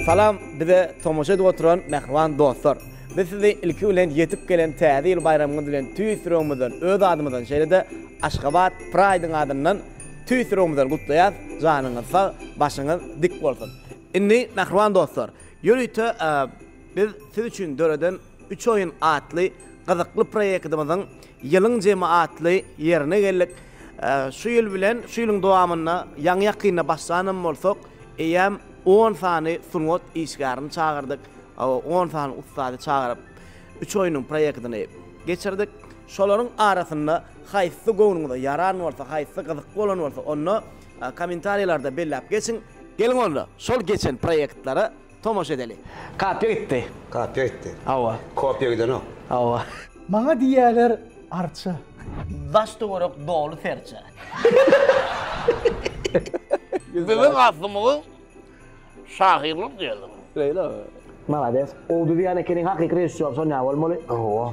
Salam bize tomaşa edip oturan mähriban dostlar. Biz sizi ilki bilen ýetip gelen täze ýyl baýramyňyz bilen tüýs ýüregimizden, öz adymyzdan, şeýle-de Aşgabat Pride-yň adyndan tüýs ýüregimizden gutlaýas. Janyňyz sag, başyňyz dik bolsun. Indi mähriban dostlar, ýörite biz siz üçin döreden Üç oýun atly gyzykly proýektimiziň Ýylyň jemi atly ýerine geldik. Şu ýyl bilen şu ýylyň dowamynda ýaňy-ýakynda başlanam bolsak, eýýäm on sany sungat işgärini çagyrdyk, on sany ussady çagyryp, üç oýnuň proýektini geçirdik. Şolaryň arasynda haýsysy göwnüňize ýaran bolsa, haýsysy gyzykly bolan bolsa, onda kommentariýalarda belläp geçiň. Geliň onda, şol geçen proýektlere Tomaşa edeli. Kapya gitdi. Kapya gitdi. Hawa. Kopya gidenok. Hawa. Maňa diýýäler arça. Daş töwerek doly serçe. Biziň aslymyz şahyrlyk diýeli. Şeýlemi? Malades. Owduzýan ekeniň hakyky režissýor sonýa bolmaly. Hawa.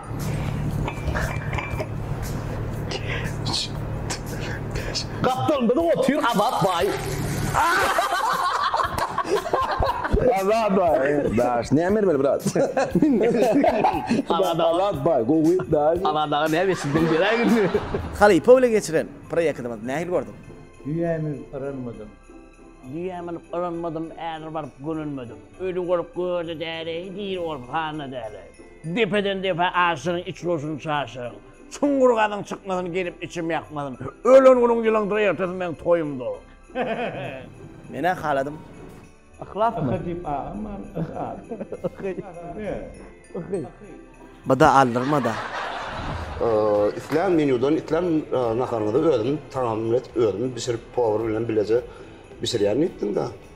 Gapdal biziň otyr Azat baý. Azat baý. Daş näme bermeli brat. Azat baý gowy daş. Azat aga näme etsindiň beräý günde. Halypa ile geçiren proýektimiz nähili gördiň? Düýä münüp yranmadym. Düýä münüp yranmadym, äre baryp gönenmedim. Öli bolup görde däleý, diri bolup handa däleý. Depeden-depä aşyryň, iç goşuny çaşyryň. Çuňňur gazyň, çykmasyn, gelip içim ýakmasyn. Ölen günüň ýylyňdyr, ertesi meň toýumdyr. Men-ä haladym. Yhlasmy? Yhy diýip agam bar, yhy at. Yhy. Yhy. Bada aldyrma-da. Islän menýudan, islän naharyňyzy özüm tagamlaýt, özüm bişirip, powar bilen bileje bişirýän diýipdiň-dä.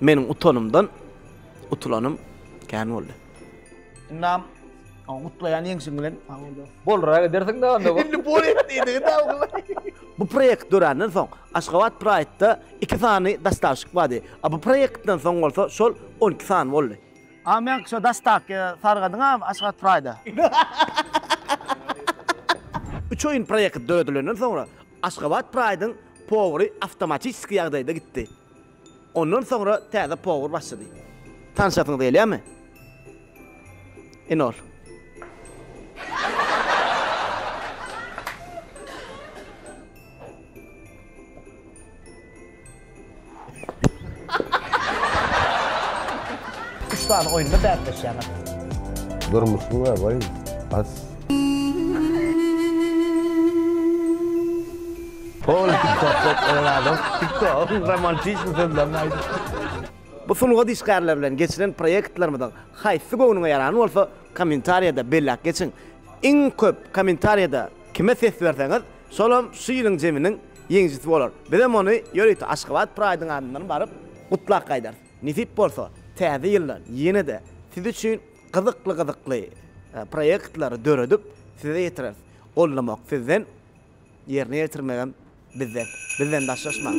Meniň utanymdan utulanym kän boldy. Ynam, gutlaýan ýeňşiň bilen. Sag bol dos. Bolraga edersiň dagy onda bu. Indi bol et diýdigi dagy bu. Bu proýekt dörändan soň Aşgabat Pride-da iki sany dastavşik bardy. A bu proýektden soň bolsa şol on iki sany boldy. A meňki şo dastavki sargadyň a Aşgabat Pride-a. Üç oýun proýekt döredilenden soňra Aşgabat Pride-yň powry awtomatiski ýagdaýda gitdi. Ondan soňra täze powar başlady. Tanyşasyňyz gelýärmi? Ine ol. Üç sany oýunda bäsleşýäňiz. Durmuşyň abaýy has. Ol TikTok-TikTok-TikTok romantizm sözlerini aýdypdyr. Bu sungat işgärleri bilen geçiren proýektlerimiziň haýsysy göwnüňe ýaran bolsa, kommentariýada belläp geçiň. Iň köp kommentariýada kime ses berseňiz, şolam şu ýylyň jeminiň ýeňijisi bolar. Bizem ony ýörite Aşgabat Pride-yň adyndan baryp, gutlap gaýdarys. Nesip bolsa, täze ýylda ýene-de siz üçin gyzykly-gyzykly proýektlary döredip, size ýetireris. Gollamak sizden. Ýerine ýetirmegem bizden. Bizden daşlaşmaň.